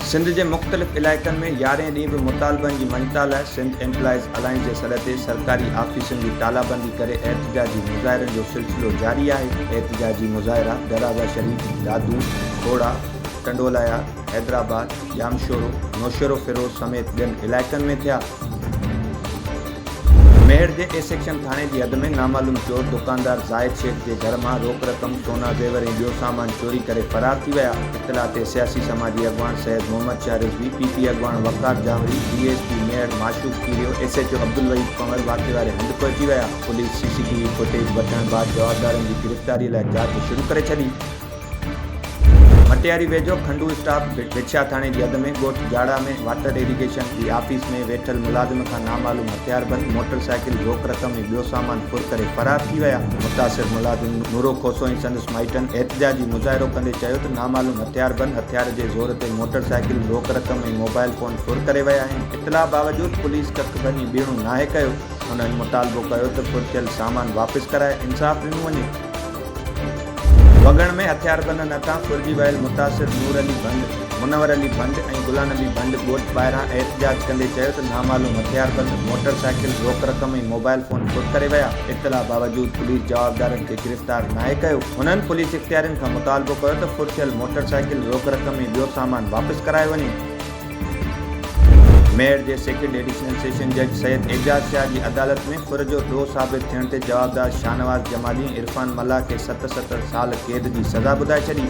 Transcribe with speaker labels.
Speaker 1: سنڌ جي مختلف علائقن ۾ يارهين ڏينهن به مطالبن جي مڃتا لاء سنڌ ايمپلائيز الائنس جي سڏ تي سرڪاري آفيسن جي تالابندي ڪري احتجاجي مظاهرن جو سلسلو جاري آهي احتجاجي مظاهرا دراز شريف، دادو، ٺوڙها، ٽنڊولايا، حيدرآباد، ڄامشورو، نوشهروفيروز سميت ٻين علائقن ۾ ٿيا. ميهڙ جي اي سيڪشن ٿاڻي جي حد ۾ نامعلوم چور دڪاندار زاهد شيخ جي گهر مان روڪ رقم، سونا زيور ۽ ٻيو سامان چوري ڪري فرار ٿي ويا. اطلاع تي سياسي سماجي اڳواڻ سيد محمد شاهه رضوي، پي پي اڳواڻ Waqar Jawri, D S P Mehar Mashooq Kerio, S H O Abdul Waheed Panhwar واقعي واري هنڌ پهچي ويا. Police C C T V footage وٺڻ بعد جوابدارن جي گرفتاري لاء جاچ شروع ڪري ڇڏي. ڀٽياري ويجهو کنڊو اسٽاپ وڇيا ٿاڻي جي اڌ ۾ ڳوٺ جاڙا ۾ واٽر ايريگيشن جي آفيس ۾ ويٺل ملازم کان نامعلوم هٿياربند موٽر سائيڪل، روڪ رقم ۽ ٻيو سامان ڦر ڪري فرار ٿي ويا. متاثر ملازم نورو کوسو ۽ سندس مائٽن احتجاجي مظاهرو ڪندي چيو ته نامعلوم هٿياربند هٿيار جي زور تي موٽر سائيڪل، روڪ رقم ۽ موبائل فون ڦر ڪري ويا آهن. اطلاع باوجود پوليس ڪک ڀڃي بيهڻو ناهي ڪيو. هنن مطالبو ڪيو ته ڦر ٿيل سامان واپس ڪرائي انصاف ڏنو وڃي. وڳڻ ۾ هٿياربندن هٿان ڦرجي ويل متاثر نور علي ڀنڊ، منور علي ڀنڊ ۽ غلا نبي ڀنڊ ڳوٺ ٻاهران احتجاج ڪندي چيو ته نامعلوم هٿياربند موٽر سائيڪل، روڪ رقم ۽ موبائل فون ڦر ڪري ويا، اطلاع باوجود پوليس جوابدارن کي گرفتار ناهي ڪيو، هنن پوليس اختيارين کان مطالبو ڪيو ته ڦر ٿيل موٽر سائيڪل، روڪ رقم ۽ ٻيو سامان واپس ڪرايو وڃي. ميڙ جي سيڪنڊ ايڊيشنل سيشن جج سيد اعجاز شاهه جي عدالت ۾ ڦر جو ڏوهه ثابت ٿيڻ تي جوابدار شاهنواز جمالي ۽ عرفان ملاح کي ست ست سال قيد جي سزا ٻڌائي ڇڏي.